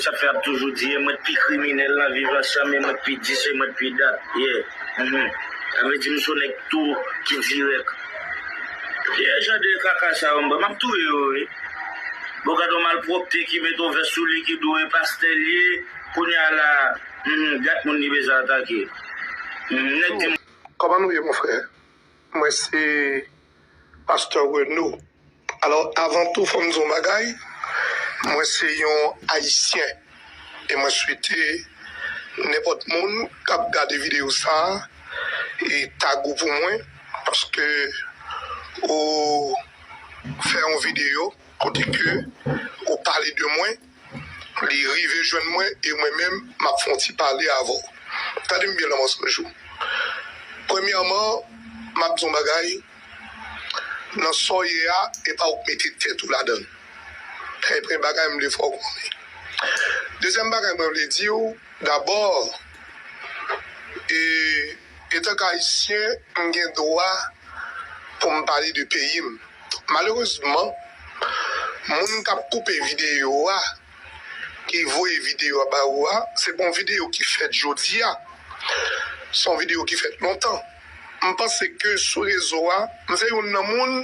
Sa fè ap toujou di e mwen t pi kriminèl nan viv ansanm e mwen t pi dis e mwen t pi dat yeah uhmm sa vle di m sou nèg tou ki dirèk ki jan de kaka sa yo m ba map touye yo wi bon gad yon malpwopte ki met yon vès sou li ki do e pastè l ye kounya la uhmm gad moun li bezwen atake uhmm nèg di m. Kòman nou ye mon frè Mwen se Pasteur Renaud. Alò avan tou fòm di yon bagay, mwen se yon ayisyen e mwen swete nenpòt moun kap gade video sa e tag ou pou mwen paske ou fè yon video kote ke ou pale de mwen. Li rive jwenn mwen e mwen menm m ap fè yon ti pale avè w. Tande m byen lanmò Sanjou. Premyèman, m ap di w yon bagay, nan sa w ye a, e pa w k mete tèt ou ladan l. E premye bagay m vle fè w konnen. Dezyèm bagay mwen vle di w, dabò, e. Etank Ayisyen, m gen dwa pou m pale de peyi m. Malerezman, moun k ap koupe videyo a, ki voye videyo a ba ou a, se pa yon videyo ki fèt jodi a. Se yon videyo ki fèt lontan. M panse ke sou rezo a, m se youn nan moun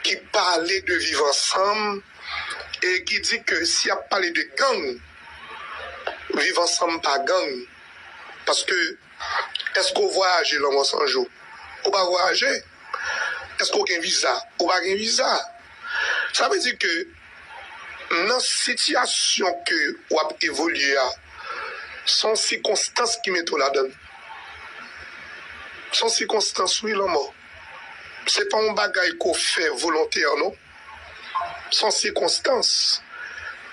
ki pale de viv ansanm e ki di ke si y ap pale de gang, viv ansanm pa gang. Paske, èske w vwayaje lanmò san jou? Ou pa vwayaje. Èske w gen viza? Ou pa gen viza. Sa vle di ke nan sitiyasyon ke w ap evolye a, se yon sikonstans ki mete w ladan l. Se yon sikonstans wi lanmò. Se pa yon bagay ke w fè volontè non. son sikonstans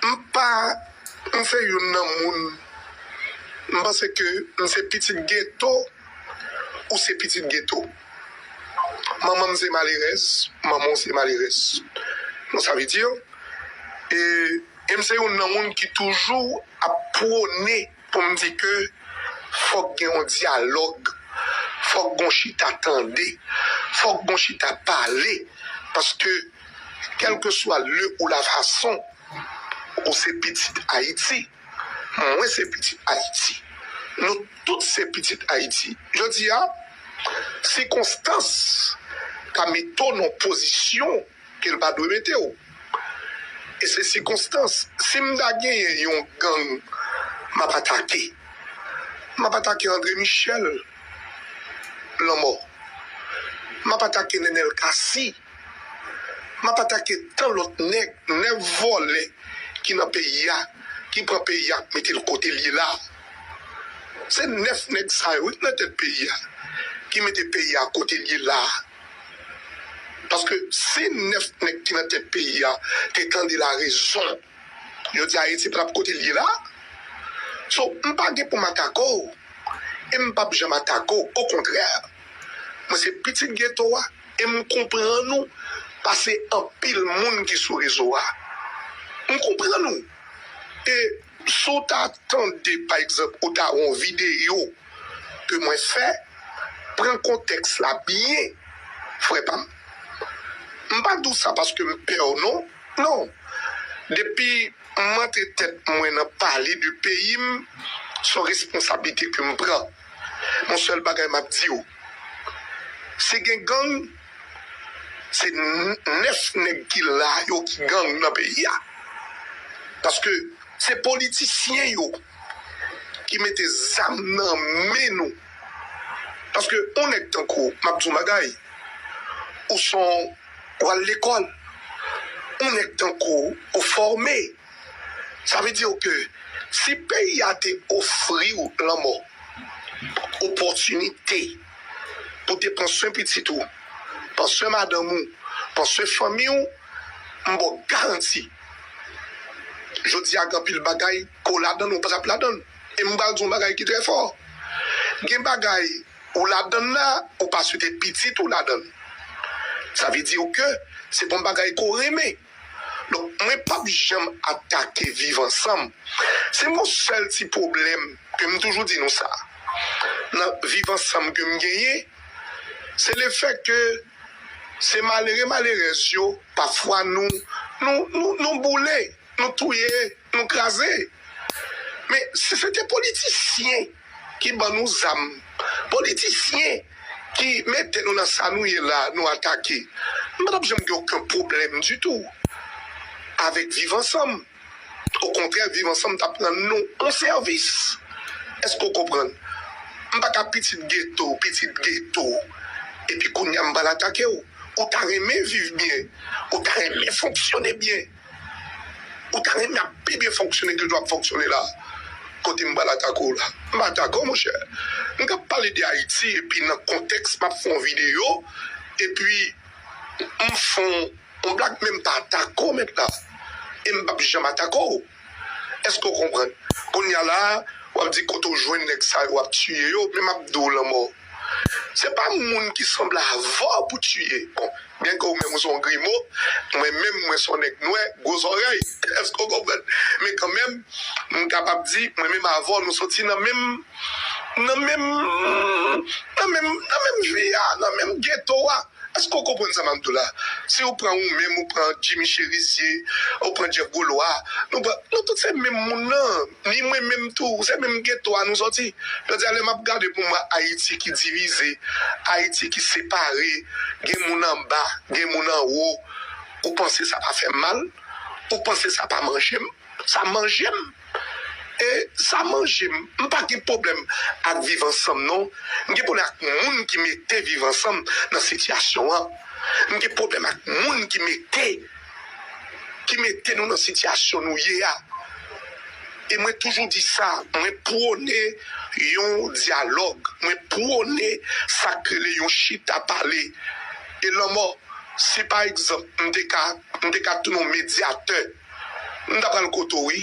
m pa m se youn nan moun m panse ke m se pitit geto ou se pitit geto manman m se malerèz manman w se malerèz bon sa vle di e m se youn nan moun ki toujou ap pwone. pou m di ke fòk gen yon dyalòg, fòk gen yon chita tande, fòk gen yon chita pale, paske kèlkeswa le ou la fason, ou se pitit Ayiti, mwen se pitit Ayiti, nou tout se pitit Ayiti. Jodi a, sikonstans ka mete w nan yon pozisyon. ke l pa dwe mete w e se sikonstans si m ta genyen yon gang m ap atake m ap atake Andre Michel lanmò m ap atake Nenel Cassy m ap atake tan lòt nèg nèg vòlè ki nan peyi a ki pran peyi a k mete l kote l ye la se 9 nèg sa yo wi k nan tèt peyi a ki mete peyi a kote l ye la. Paske si 9 nèg ki nan tèt peyi a te tande la rezon yo di Ayiti pa tap kote l ye la. So m pa gen pou m atake w e m pap janm atake w okontrè mwen se pitit geto a e m konprann ou pase anpil moun ki sou rezo a. M konprann ou e Si w ta tande, pa egzanp, ou ta wè yon videyo ke mwen fè, pran kontèks la byen, frè pa m. M pa di w sa paske m pè w non. Non. Depi m antre tèt mwen nan pale de peyi m, se yon responsablite ke m pran. Yon sèl bagay m ap di w, si gen gang, Se 9 nèg ki la yo ki gang nan peyi a. Paske se politisyen yo ki mete zam nan men nou. Paske yon nèg tankou w, m ap di w yon bagay, ou son w al lekòl, yon nèg tankou w, ou fòme. Sa vle di w ke si peyi a te ofri w lanmò, opòtinite. pou te pran swen pitit ou, pran swen madanm ou, pran swen fanmi w, m ba w garanti jodi a gen anpil bagay ke w ladan l ou pa tap ladan l. E m pral di w yon bagay ki trè fò, gen bagay ou ladan l la ou pa swete pitit ou ladan l. Sa vle di w ke se pa yon bagay ke w renmen. Donk mwen pap janm atake viv ansanm. Se yon sèl ti pwoblèm ke m toujou di nou sa nan viv ansanm ke m genyen, se le fèt ke se malere malerèz yo pafwa nou nou boule, nou touye, nou kraze. Men si se te politisyen ki ban nou zam, politisyen ki mete nou nan sa nou ye la nou atake. M pa t ap janm gen oken pwoblèm ditou avèk Viv ansanm. Okontrè, Viv ansanm t ap rann nou yon sèvis. Èske w konprann? M pa ka pitit geto, pitit geto, epi kounye a m pral atake w. Ou ta renmen viv byen, ou ta renmen fonksyone byen. Ou ta renmen ap pi byen fonksyone ke jan wap fonksyone la? Kote m pral atake w la? M pa atake w monchè. M tap pale de Ayiti epi nan kontèks map fè yon videyo epi m fè yon blag men m pa atake w mèt la. E m pap janm atake w. Eske w konprann? Kounya la a wap di kote w jwenn nèg sa yo wap tiye yo men map di w lanmò. Se pa moun ki sanble avè w pou tiye. Bon, byenke ou menm ou se yon grimo, mwen menm mwen se yon nèg nwè gwo zòrèy, èske w konprann? Men kanmenm, m kapab di, mwen menm avè w nou soti nan menm, nan menm, nan menm, nan menm vi a, nan menm geto a. Eske w konprann sa map di w la? Si ou pran ou menm ou pran Jimmy Cherizier, ou pran Jeff Golois, nou pran, nou tout se menm moun nan, ni mwen menm tou, se menm geto a nou sòti. Jodi a lè map gade pou m wè Ayiti ki divize, Ayiti ki separe, gen moun anba, gen moun anwo, ou panse sa pa fè m mal? Ou panse sa pa manje m? Sa manje m! E sa manje m. M pa gen pwoblèm ak viv ansanm non. M gen pwoblèm ak moun ki mete viv ansanm nan sitiyasyon an. M gen pwoblèm ak moun ki mete ki mete nou nan sitiyasyon nou ye a. E mwen toujou di sa, mwen pwone yon dyalòg, mwen pwone sa k rele yon chita pale. E lanmò, si pa egzanp m te ka m te ka tounen yon medyatè. M ta pral kote w wi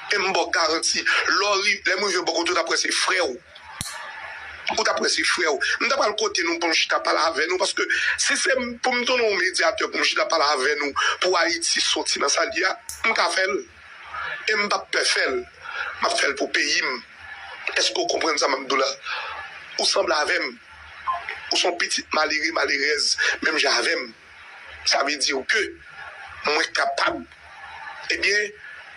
e m ba w garanti lè m rive bò kote w ta kwè se frè w. Ou ta kwè se frè w. M ta pral kote nou pou m chita pale avè nou paske si se pou m tounen yon medyatè pou m chita pale avè nou pou Ayiti soti nan sa l ye a, m ka fè l e m p ap pè fè l. M ap fè l pou peyi m. Èske w konprann sa m ap di w la? Ou sanble avè m. Ou se yon pitit malere, malerèz menm jan avè m. Sa vle di ke mwen kapab. Ebyen,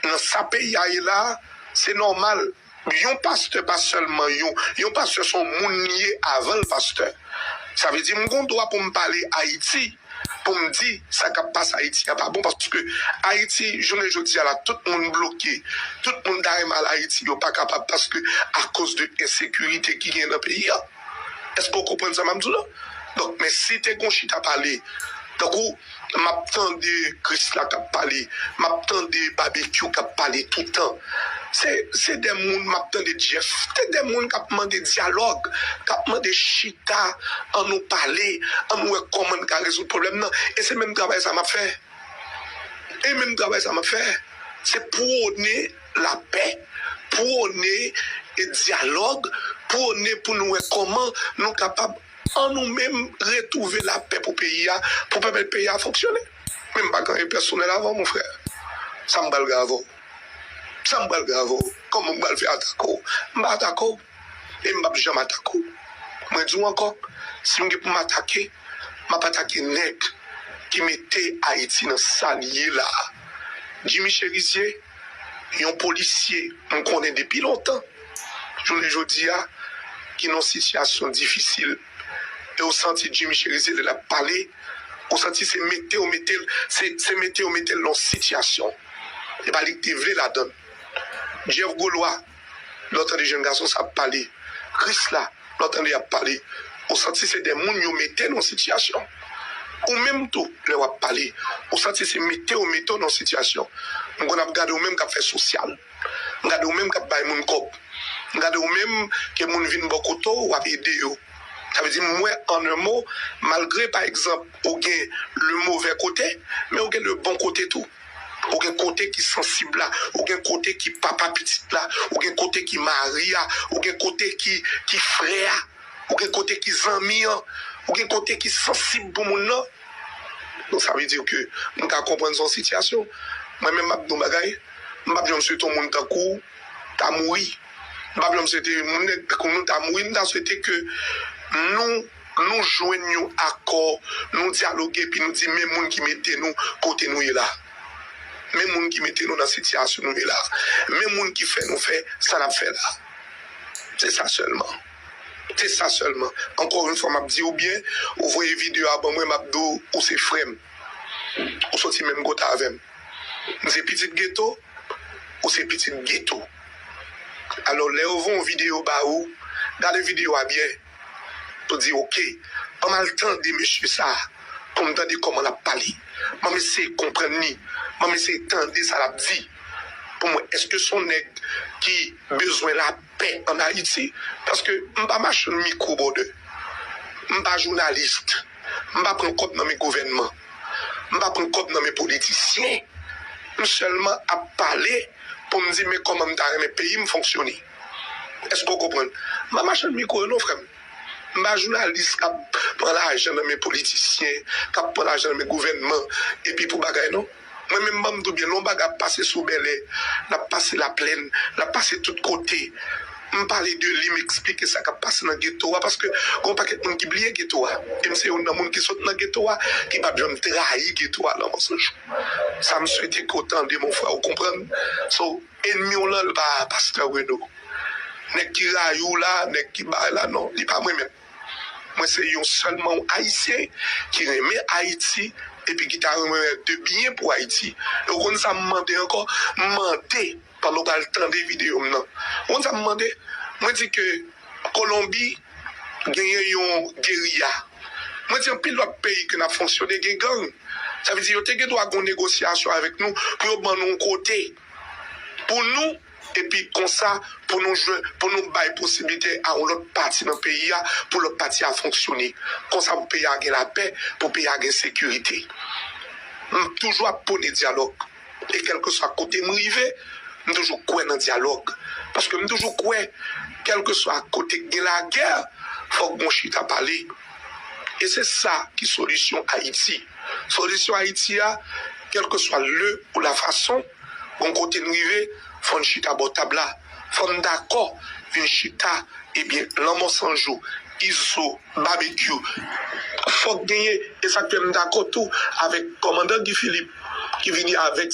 nan sa peyi a ye la a, se nòmal. Yon pastè pa sèlman yon. Yon pastè se yon moun li ye avan l pastè. Sa vle di m gen dwa pou m pale Ayiti, pou m di sa k ap pase Ayiti a pa bon. Paske Ayiti, jounen jodi a la, tout moun bloke. Tout moun ta renmen al Ayiti, yo pa kapab paske akoz de ensekirite ki gen nan peyi a. Eske ou konprann sa map di w la? Donk men si te gon chita pale tankou map tande Krisla kap pale, map tande Babekyou kap pale toutan. Se se 2 moun map tande Jeff. Se 2 moun kap mande dyalòg, kap mande chita an nou pale, an nou wè kòman n ka rezoud pwoblèm nan. E se menm travay sa map fè. E menm travay sa map fè. Se pwone. lapè, pwone dyalòg, pwone pou nou wè kòman nou kapab an nou menm retwouve lapè pou peyi a, pou pèmèt peyi a fonksyone. Men m pa gen anyen pèsonèl avè w mon frè. Sa m pral gen avè w? Sa m pral gen avè w? Kòman m pral fè atake w? M pa atake w e m p ap janm atake w. Mwen di w ankò, si m gen pou m atake, m ap atake nèg ki mete Ayiti nan sa li ye la a. Jimmy Cherizier. yon polisye m konnen depi lontan jounen jodi a ki nan sitiyasyon difisil e ou santi Jimmy Cherizier lè l ap pale ou santi se mete yo mete l se mete yo mete l nan yon sitiyasyon e pa li k te vle ladann Jeff Golois. Lè w tande jèn gason sa ap pale, risk la lè w tande y ap pale, ou santi se de moun yo mete nan yon sitiyasyon. Ou menm tou, lè w ap pale, ou santi se mete yo mete w nan yon sitiyasyon. M konn ap gade w menm k ap fè sosyal. M gade w menm k ap bay moun kòb. M gade w menm ke moun vin bò kote w, w ap ede yo. Sa vle di m wè an un mot, malgre pa egzanp ou gen le move kote, men ou gen le bon kote tou. Ou gen kote ki sansib la, ou gen kote ki papa pitit la, ou gen kote ki mari a, ou gen kote ki ki frè a, ou gen kote ki zanmi an, ou gen kote ki sansib pou moun nan. Donk sa vle di ke m ka konprann se yon sitiyasyon. Mwen menm m ap di yon bagay, m pa p janm swete yon moun tankou w ta mouri. M pa p janm swete yon moun tankou nou ta mouri. M ta swete ke nou. Nou jwenn yon akò, nou dyaloge epi nou di men moun ki mete nou kote nou ye la. Men moun ki mete nou nan sitiyasyon nou ye la. Men moun ki fè nou fè sa n ap fè la. Se sa sèlman. Se sa sèlman. Ankò yon fwa m ap di ou byen, ou voye videyo a ban mwen, m ap di w ou se frè m. Ou soti menm kote avè m. M se pitit geto, ou se pitit geto. Alò lè yo voye yon videyo ba ou, gade videyo a byen. Mwen di ok, banm al tande mesye sa, pou m tande kòman l ap pale. Banm eseye konprann li, banm eseye tande sa l ap di, pou m wè èske s on nèg ki bezwen lapè ann Ayiti. Paske m pa machann mikwo brother, m pa jounalis, m pa pran kòb nan men gouvènman, m pa pran kòb nan men politisyen. M sèlman ap pale pou m di men kòman m ta renmen peyi m fonksyone. Eske w konprann? M pa machann mikwo yo non frè m. M pa jounalis k ap pran lajan nan men politisyen, k ap pran lajan nan men gouvènman epi pou bagay non. Mwen menm ban m di w byen lè yon bagay ap pase sou Bèlè, l ap pase Laplèn, l ap pase tout kote, m pale de li, m esplike sa k ap pase nan geto a paske gen yon pakèt moun ki bliye geto a. E m se youn nan moun ki sot nan geto a, ki pa t janm trayi geto a nan mòso jou. Sa m swete ke w tande mon frè, ou konprann. So. Enmi w lan l pa pastè Reno. Nèg ki rayi w la, nèg ki bay la non, li pa mwen menm. Mwen se yon sèlman yon Ayisyen ki renmen Ayiti epi ki ta renmen wè de byen pou Ayiti. E ou konn sa m mande ankò? M mande, pandan w pral tande videyo m nan, ou konn sa m mande? Mwen di ke. Kolonbi genyen yon geriya. Mwen di anpil lòt peyi ke nap fonksyone gen gang. Sa vle di yo te gen dwa gon negosyasyon avèk nou pou yo ban nou yon kote pou nou epi konsa pou nou jwen pou nou bay posiblite a yon lòt pati nan peyi a pou lòt pati a fonksyone. Konsa pou peyi a gen lapè, pou peyi a gen sekirite. M toujou ap pwone dyalòg. E kèlkeswa kote m rive, m toujou kwè nan dyalòg. Paske m toujou kwè, kèlkeswa kote k gen lagè, fòk gon chita pale. E se sa ki solisyon Ayiti. Solisyon Ayiti a, kèlkeswa leu ou lafason, gon kote n rive, fò n chita bò tab la. Fò n dakò vin chita, ebyen lanmò san jou, Izo. Babekyou fòk genyen esak fè m dakò tou avèk kòmandan Guy Philippe ki vini avèk.